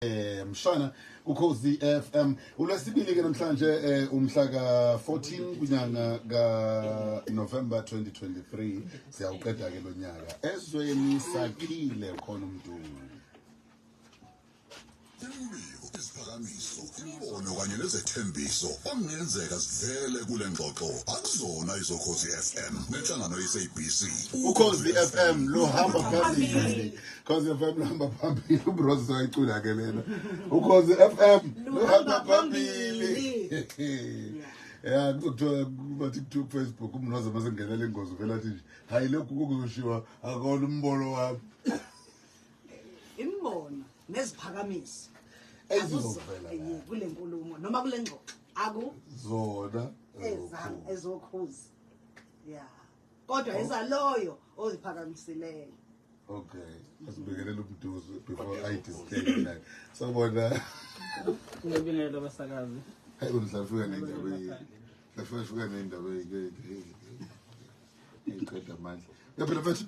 Eh, mshana kukhozi FM ulwesibili ke namhlanje eh, umhla ka 14 kunyanga ka November 2023 siyawuqeda ke lonyaka ezweni sakhile khona umdungu imibiko isiphakamiso imibono kanye nezethembiso okungenzeka sivele kule ngxoxo akuzona izokhozi FM nenhlangano ye-SABC ukhozi FM luhamba phambili Khoze FM luhamba phambili uBros ayicula ke lena. Ukhoze FM luhamba phambili. Yeah, kuthiwa bathi kuthiwa Facebook umnoza mase ngenela ingozi vela athi nje hayi lokhu kuzoshiwa akona umbono wami. Imbono neziphakamisi. Ezizovela kule nkulumo noma kule ngxoxo. Aku zona ezokhuza. Yeah. kodwa eza loyo oziphakamiseleyo okay asibingelele umduzo before i disclaim like sabona ngibingelele abasakazi hayi undlafika nendaba yini ndlafika nendaba yini iqeda amandla yaphela mfethu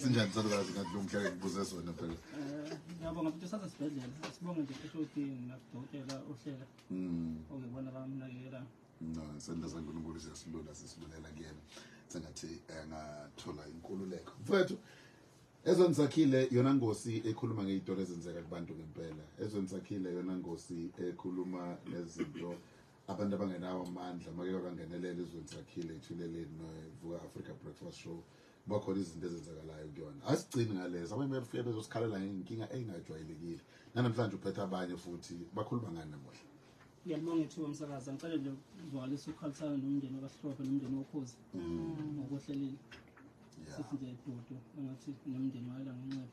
sinjani salukazi ngathi lo mhlaka ngibuze sona phela eh, ngiyabonga futhi usaza sibhedlela sibonge nje futhi uthi nakudokotela uhlela hmm. okuyibona bamnakekelayo no isandla sankulunkulu siyasilula sisilulela kuyena sengathi eh, angathola inkululeko mfethu ezweni sakhile yona ngosi ekhuluma ngey'tolo ezenzeka kubantu ngempela ezweni sakhile yona ngosi ekhuluma nezinto abantu abangenawo amandla make bangenelele ezweni sakhile ithuleleni novuka africa breakfast show kuba khona izinto ezenzakalayo kuyona asigcini ngalezo abanye bayafika bezosikhalela ngenkinga engajwayelekile nanamhlanje uphetha abanye futhi bakhuluma ngani namuhla Ngiyabonga ithuba msakazi ngicela nje ukuzwakalisa ukukhalisana nomndeni wakaSihlophe nomndeni wokhozi mm. ngokuhlelile sithi nje dudu engathi nomndeni wayela ngenxeba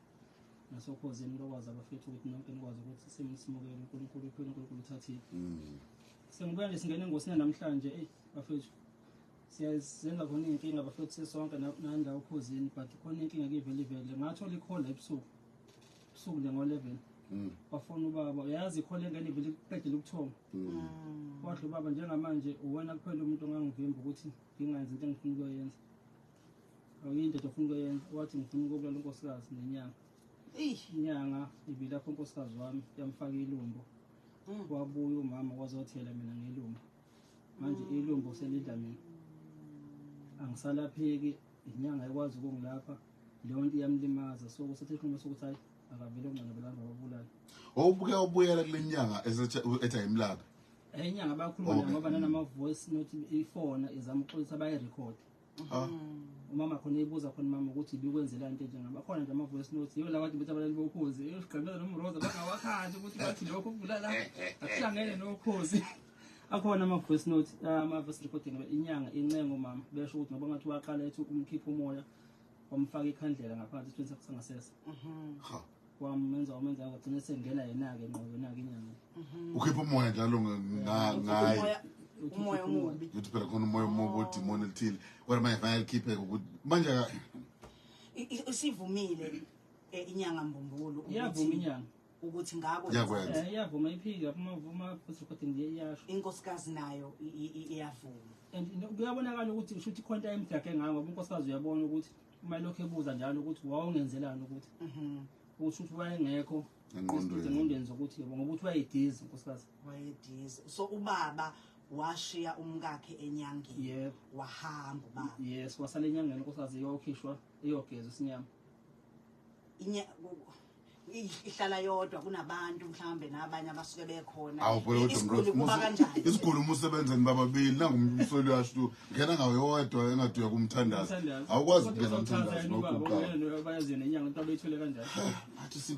nasokhozini lokwazi abafethu ukuthi nonke nikwazi ukuthi simsimukele uNkulunkulu uphile uNkulunkulu uthathile mm. sengibuya nje singena engosini namhlanje eyi bafethu siyazenza khona iy'nkinga bafethu sisonke nandawo okhozini but khona inkinga kivele ivele ngathola ikhola ebusuku ubusuku nje ngo-eleven mm. wafona ubaba uyazi ikhona engane vele qedela ukuthoma mm. wadla ubaba njengamanje uwena kuphela umuntu ongangivimba ukuthi ngingenzi into engifuna ukuyoyenza awuyindoda ofuna ukuyoyenza wathi ngifuna ukubulala unkosikazi nenyanga inyanga ibilapho unkosikazi wami yamfaka ilumbo mm. wabuya umama wazothela mina ngelumbo manje ilumbo selidla mina angisalapheki inyanga ikwazi ukungilapha leyo nto iyamlimaza so kusethe isinqumo sokuthi hayi akavele ongcono belanda babulala owubuke ubuyela kule nyanga ethi ayimlabe enye inyanga bayakhuluma naye ngoba nanama-voice note ifona izama ukuxolisa bayi-record ah. umama khona eyibuza khona mama ukuthi ibikwenzela nto enje ngaba khona nje ama-voice note yiwo lawathi bethi abalali bokhozi eyosigqamela nomroza bangawakhandi ukuthi bathi lokho kubulala akuhlangene nokhozi akhona ama-voice note ah, ama-voice recording inyanga incengo mama besho ukuthi ngoba ngathi waqala ethi umkhipha umoya wamfaka ikhandlela ngaphansi isithweni sakhe sangasese mhm. ha wamenza wamenza wagcina sengena yena-ke ngqobo yona-ke inyanga mhm. ukhipha umoya njalo ngaye umoya omubi ukuthi phela khona umoya omubi odimoni elithile kodwa manje fanele likhipheke ukuthi manje isivumile eh, inyanga mbumbulu iyavuma inyanga ukuthi ngakho yakwenza eh, iyavuma iphika uma vuma futhi ukuthi nje iyasho inkosikazi nayo iyavuma and kuyabonakala ukuthi ushuthi khonta emdake ngako inkosikazi uyabona ukuthi uma lokho ebuza njalo ukuthi wawungenzelani ukuthi mhm. usho ukuthi wayengekho engqondweni zokuthi yebo ngoba uthi wayedizi inkosikazi wayedizi so ubaba washiya umkakhe enyangeni yebo wahamba ubaba yes wasala enyangeni inkosikazi iyokhishwa iyogezwa isinyama ihlala yodwa kunabantu mhlawumbe nabanye abasuke bekhona isiguli uma usebenzeni bababili nangumsoli uyasho ngena ngawo yodwa engathi uyakumthandaza awukwazi ukugeza mthandazi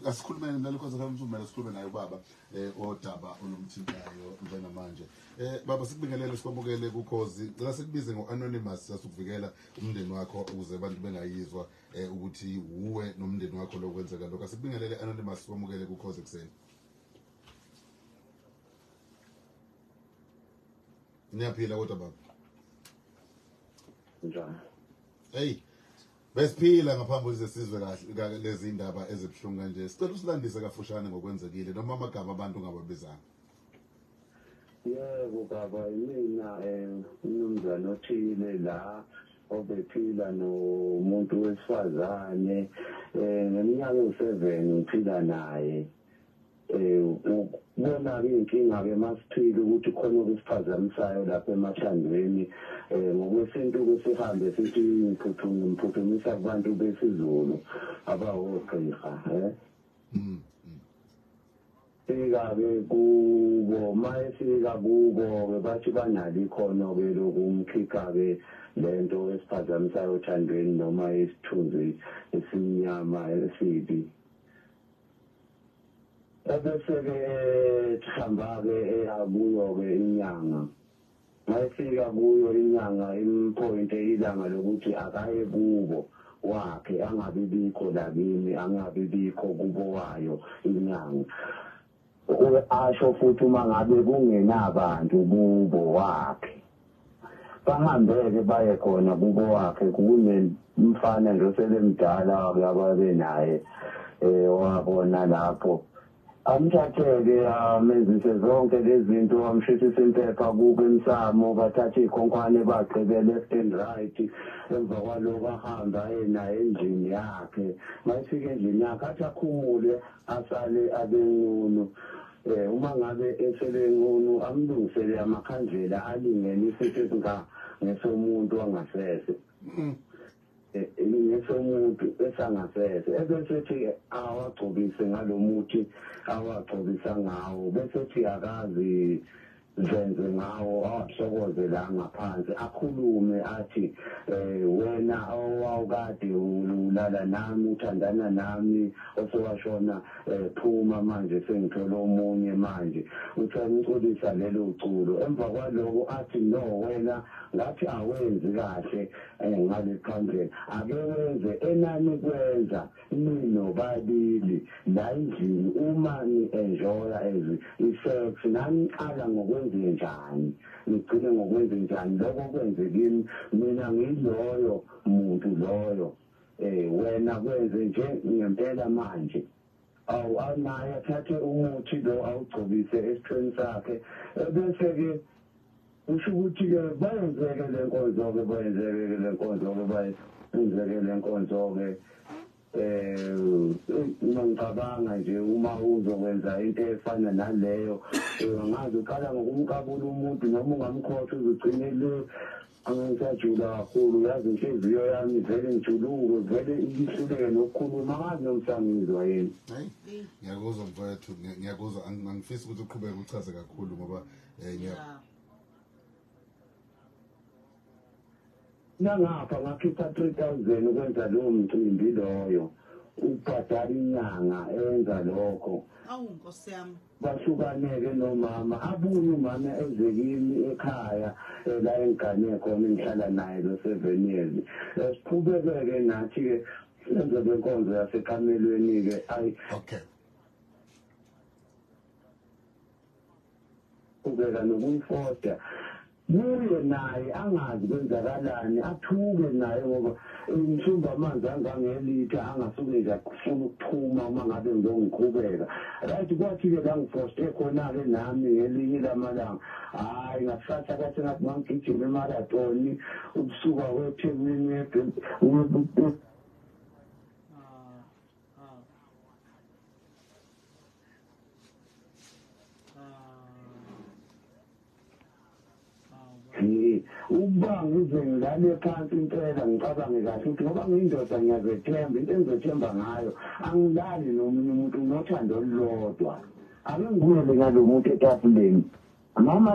asikhulumene nalokho zakamsumela sikhulume naye ubaba um odaba olumthintayo njengamanje um baba sikubingelele sikwamukele kukhozi cela sikubize ngo-anonymous sasikuvikela umndeni wakho ukuze abantu bengayizwa um eh ukuthi uwe nomndeni wakho lokwenzeka lokho asibingelele anonymous wamukele ku cause ekseni Niyaphila kodwa baba Njani Hey Besiphila ngaphambi ukuze sizwe kahle lezi ndaba ezibuhlungu kanje sicela usilandise kafushane ngokwenzekile noma amagama abantu ngababizanga yebo baba yimina um umnumzane othile la obephila nomuntu wesifazane um ngeminyaka ewu-seven ngiphila naye um kubona-ke iy'nkinga-ke masiphile ukuthi khona okusiphazamisayo lapha emathandweni um ngokwesintu-ke sihambe sithi ngiphuthumisa kubantu besizulu abawogqirha um Fika-ke kubo. Uma efika kubo-ke bathi banalo ikhono-ke lokumkhipha-ke le nto esiphazamisayo othandweni noma isithunzi esimnyama esibi. Ebese-ke ehamba-ke eya kuyo-ke inyanga. Mayefika kuyo inyanga imphointe ilanga lokuthi akaye kubo wakhe angabi bikho la kimi angabi bikho kubo wayo inyanga. Uke asho futhi uma ngabe kungenabantu kubo wakhe bahambeke baye khona kubo wakhe kunemfana nje osebemdala wake ababe naye owabona lapho Amthatheke amenzise zonke lezinto amshithise impepha kubo emsamo bathathe ikhonkwane bagqibele left and right emva kwaloko ahambe aye naye endlini yakhe mayifika endlini yakhe athi akhumule asale abenqunu eh uma ngabe esebenqunu amlungisele amakhandlela alingene isithe singa ngesomuntu wangasese mm. ngesomuntu esangasese ebesethi awagcobise ngalomuthi awagcobisa ngawo besethi akazi zenze ngawo awahlokoze la ngaphansi akhulume athi eh wena awukade ulala nami uthandana nami osewashona eh, phuma manje sengithola omunye manje usamculisa lelo culo emva kwaloko athi no wena ngathi awenzi kahle Eh, ngalekhandlela ake wenze enanikwenza ninobabili la endlini uma ni-enjoya as i-sex naniqala ngokwenzenjani nigcine ngokwenzenjani lokho kwenze kimi mina ngiyiloyo muntu loyo um wena kwenze nje ngempela manje awu anaye athathe umuthi lo awugcobise esiqeni sakhe ebese-ke kusho ukuthi-ke bayenzeke le nkonzo-ke bayenzeke-ke le nkonzo-ke bayenzeke le nkonzo-ke um uma ngicabanga nje uma uzokwenza into efana naleyo angazi uqala ngokumkabula umuntu noma ungamkhotha uzugcine le Angisajuli kakhulu yazi inhliziyo yami vele ngijuluke vele ihluleke nokukhuluma angazi noma sangizwa yini hayi ngiyakuzwa mfowethu ngiyakuzwa angifisi ukuthi uqhubeke uchaze kakhulu ngoba eh, ngiya nangapha ngakhipha 3000 ukwenza lowo mcimbi loyo ubhadala inyanga enza lokho awu nkosi yami Bahlukane-ke nomama, abuye umama eze kimi ekhaya eh, la engigane khona engihlala naye lo seven years. Eh, Siqhubeke-ke nathi-ke senze le nkonzo yasekamelweni-ke ayi okay qhubeka nokuyifoda kuye naye angazi kwenzakalani athuke naye ngoba ngishumba amanzi angangelitha angasuke nje afuna ukuphuma uma ngabe ngizongiqhubeka right kwathi-ke la ngifoste khona-ke nami ngelinye ilamalanga hhayi ngakusasa kwathi ngathi ngangigijima emaratoni ukusuka kwethekwini ukubanga izingane phansi impela ngicabange kahle ukuthi ngoba ngiyindoda ngiyazethemba into engizethemba ngayo angilali nomunye umuntu nginothando olulodwa ake ngibuyele ngalo muntu etafuleni mama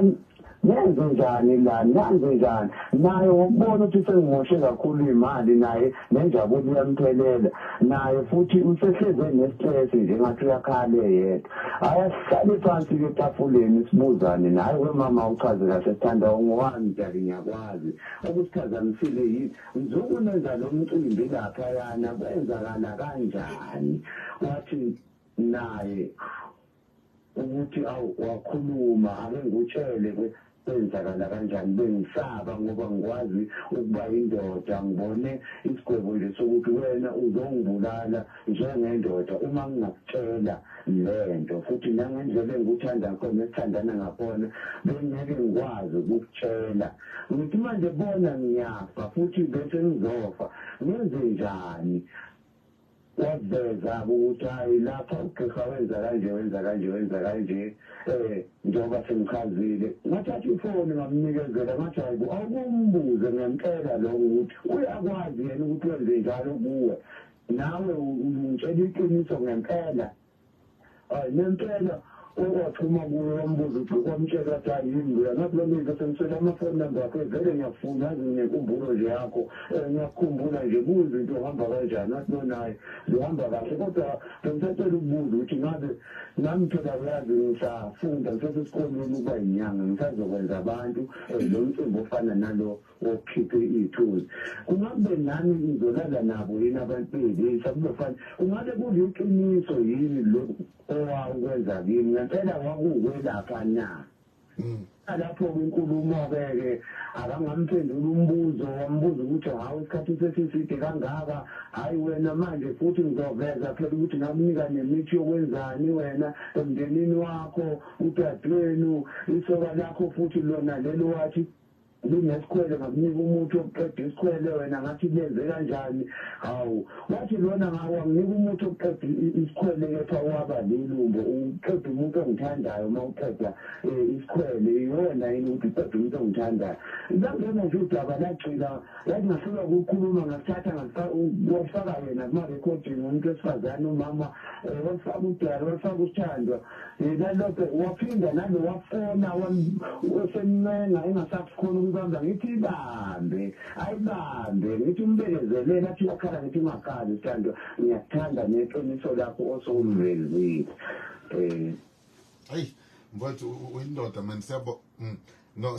nenze njani la nanze njani naye ngokubona ukuthi sengimoshe kakhulu imali naye nenjabulo iyamphelela naye futhi usehleze nestress nje ngathi uyakhale yedwa ayasihlale phansi ke tafuleni sibuzane naye we mama uchaze kahle sithanda ungowami dali ngiyakwazi okusiphazamisile yini ngizoku nenza lo mcimbi lapha yana kwenzakala kanjani wathi naye ukuthi awu wakhuluma ake ngikutshele ke kwenzakala kanjani bengisaba ngoba ngikwazi ukuba indoda ngibone isigwebo nje sokuthi wena uzongibulala njengendoda uma ngingakutshela lento futhi nangendlela engikuthanda khona esithandana ngakhona bengeke ngikwazi ukukutshela ngithi manje bona ngiyafa futhi bese ngizofa ngenze njani waveza-ke ukuthi hhayi lapha ugqirha wenza kanje wenza kanje wenza kanje um njengoba sengichazile ngathatha ifoni ngamnikezela ngathi hhayi bo awukumbuze ngempela lokho ukuthi uyakwazi yena ukuthi wenze njalo kuwe nawe ungitshela iqiniso ngempela hayi nempela okwaphuma kuyo wambuza ukuthi kwamtshela ukuthi ayini loya ngathi lami ngithi ngitshela amafoni number akhe vele ngiyafuna azi nginenkumbulo nje yakho um ngiyakukhumbula nje kuze into ohamba kanjani athi nonaye zihamba kahle kodwa bengisacela ukubuza ukuthi ngabe nami phela uyazi ngisafunda ngisesesikolweni ukuba yinyanga ngisazokwenza abantu um lo mcimbi ofana nalo ukhiphe iy'thunzi kungabe nami ngizolala nabo yini abantu beyilisha kuzofana kungabe kuliqiniso yini lokhu owawukwenza kimi ngempela wakuwelapha na mm. lapho kwinkulumo-ke ke akangamphendula umbuzo wambuza ukuthi hawu isikhathi sesiside kangaka hhayi wena manje futhi ngizoveza phela ukuthi ngakunika nemithi yokwenzani wena emndenini wakho udadewenu isoka lakho futhi lona lelo wathi Linesikhwele ngakunika umuthi wokuqeda isikhwele wena ngathi lenze kanjani hawu wathi lona ngawanginika umuthi wokuqeda isikhwele kepha waba lelumbo uqeda umuntu ongithandayo uma uqeda eh, isikhwele iyona yini ukuthi uqeda umuntu ongithandayo langena nje udaba lagcina lathi ngahlulwa ukukhuluma ngakuthatha ngakufaka yena kuma-recording umuntu wesifazane umama eh, wafaka udala wafaka usithandwa yena lokho waphinda nalo wafona osemncenga engasakhona ukubamba ngithi ibambe ayibambe ngithi umbekezelele athi wakhala ngithi ungakhali sithandwa ngiyakuthanda neqiniso lakho osukulivezile um ayi mfowethu uyindoda mani siyabo mm, no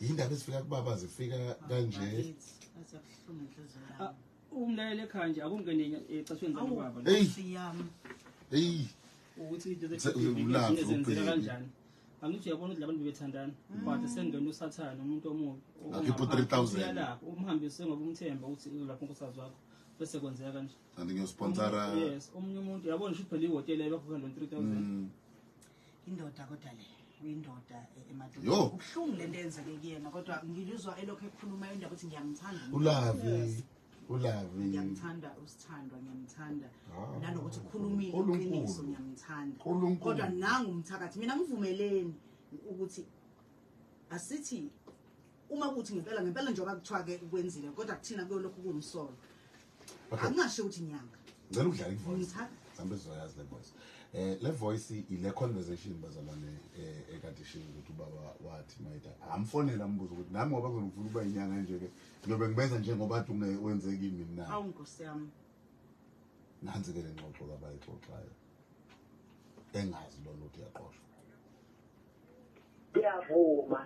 yindaba ezifika kubaba zifika kanje umlalele ekhaya nje akungene ecashweni zanobaba eyi ukuthi into zenzeka kanjani angithi uyabona ukuthi labantu bebethandana mm. but sengena usathane umuntu omubi akhipha u-three thousand lapho umhambise ngoba umthemba ukuthi lapho nkosikazi wakho bese kwenzeka kanje kanti ngiyosponsorayes omunye umuntu yabona ukuthi phela ihhotela ebakhokhela lo-three thousand mm. indoda kodwa le uyindoda e- emadodeni Yo. ubuhlungu le nto eyenzeke kuyena kodwa ngiluzwa elokhu ekhuluma indaba ukuthi ngiyamthanda umuntu. ulavi ulavi ngiyamthanda usithandwa ngiyamthanda Ah, nanokuthi ukhulumile Nkulunkulu. iqiniso ngiyamthanda Nkulunkulu. kodwa nangu umthakathi mina ngivumeleni ukuthi asithi uma kuthi ngempela ngempela njengoba kuthiwa ke kwenzile kodwa kuthina kuyolokhu kuwumsolo akungasho ukuthi nyanga ngicela ukudlala ivoice sambe sizoyazi le voice eh le voice ile conversation bazalwane eh, ekade shilo ukuthi ubaba wathi mayida amfonela ambuza ukuthi nami ngoba ngizofuna ukuba inyanga nje ke ngiyobe ngibenza njengoba athi wenze kimi mina awu nkosi yami nanzi ke le ngxoxo kabayixoxayo engazi lona ukuthi yaqoshwa Ngiyavuma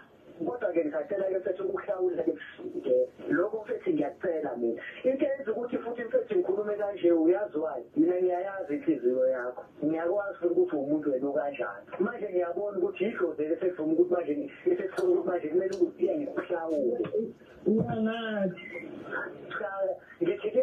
kodwa ke ngisacela ke mfethu ukuhlawula ke mfike lokho mfethu ngiyacela mina into eyenza ukuthi futhi mfethu ngikhulume kanje uyaziwayo mina ngiyayazi inhliziyo yakho ngiyakwazi futhi ukuthi umuntu wena okanjani manje ngiyabona ukuthi yidlozi elisevuma ukuthi manje esesifuna ukuthi manje kumele ukuthi iya ngikuhlawule ngithi ke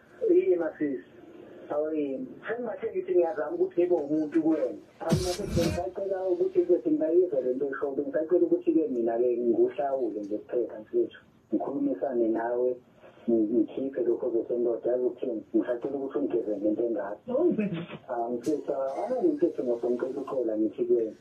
Yini masisi? Awayini. Sengingahle ngithi ngiyazama ukuthi ngibe umuntu kuwena. Ngisacela ukuthi ke singayizwa le nto eshoyo. Ngisacela ukuthi-ke mina-ke ngikuhlawule nje kuphela mfethu. Ngikhulumisane nawe ngikhiphe lokho zosendoda yazi ukuthini ngisacela ukuthi ungigezele into engaka angifisa anangimfethu ngosomcela uxola ngithi kuyena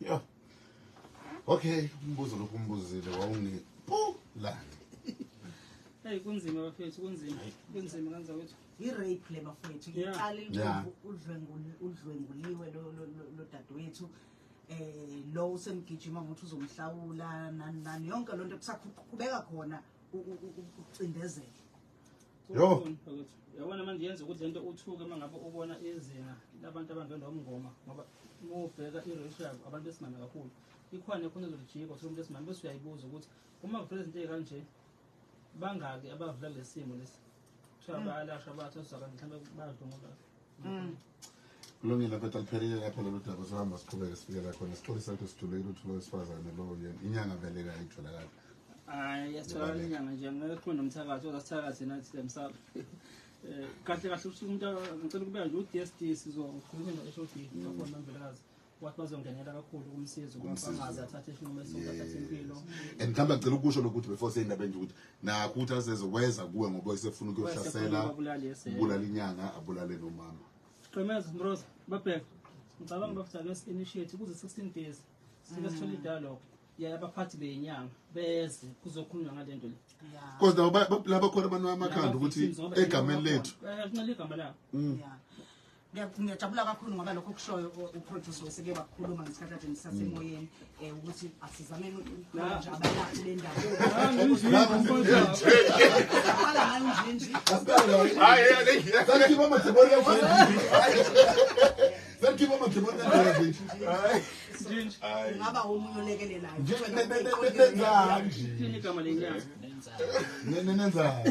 Yo. Okay, umbuzo lokhu umbuzile wawungi. Poo la. Hey kunzima bafethu kunzima. Kunzima kanza wethu. I rape le bafethu. Iqala ilungu udlwenguli udlwenguliwe lo lo dadewethu. Eh lo usemgijima ngokuthi uzomhlawula nani nani yonke lonto kusaqhubeka khona ucindezela. Yo. Yabona manje yenza ukuthi lento uthuke uma ngabe ubona izinga labantu abangena umngoma ngoba uma ubheka i-ratio yabo abantu besimame kakhulu ikhona khona ezolijika uthole umuntu esimame bese uyayibuza ukuthi uma kuvela izinto ey'kanje bangaki abavula kulesi simo lesi kuthiwa hmm. bayalashwa bathosa kanti mhlawumbe badlungula Mm. Kulungile bheda liphelile lapho lolu daba sohamba siqhubeke sifikela khona sixolisa ukuthi sijule ukuthi lo wesifazane lo yena inyanga vele kayitholakali hayi yasitholakala inyanga nje ngeke kukhona nomthakathi ozasithakathi nathi lemsaba eh, kahle kahle ukuthi umuntu ngicela ukubeka nje u-d s d sizokhuluma no-h o d akhona mvelekazi wathi bazongenela kakhulu ukumsiza ukuba Ukumsiza. angaze athathe isinqumo esizoba athathe impilo Yes. and mhlawumbe agcela ukusho lokuthi before seyindaba enje ukuthi nakho ukuthi aseze weza kuwe ngoba esefuna ukuyosasela Wayesefuna ukubulala, yes, eh. ubulala inyanga abulale nomama Qemeza Mroza babheka ngicabanga bafutha ake initiate kuze 16 days sike sithole dialogue yaya abaphathi beyinyanga beze kuzokhulunywa ngalento le Yeah. because nabo ba- ba- laba khona abantu amakhanda ukuthi egameni lethu Eh, kunxele igama labo Yeah. Ngiyajabula kakhulu ngoba lokho kushoyo uproduce weseke wakhuluma ngesikhathi kade nisasemoyeni um ukuthi asizameni nje abalaphi bendawoungaba omunye olekelelayo nenzani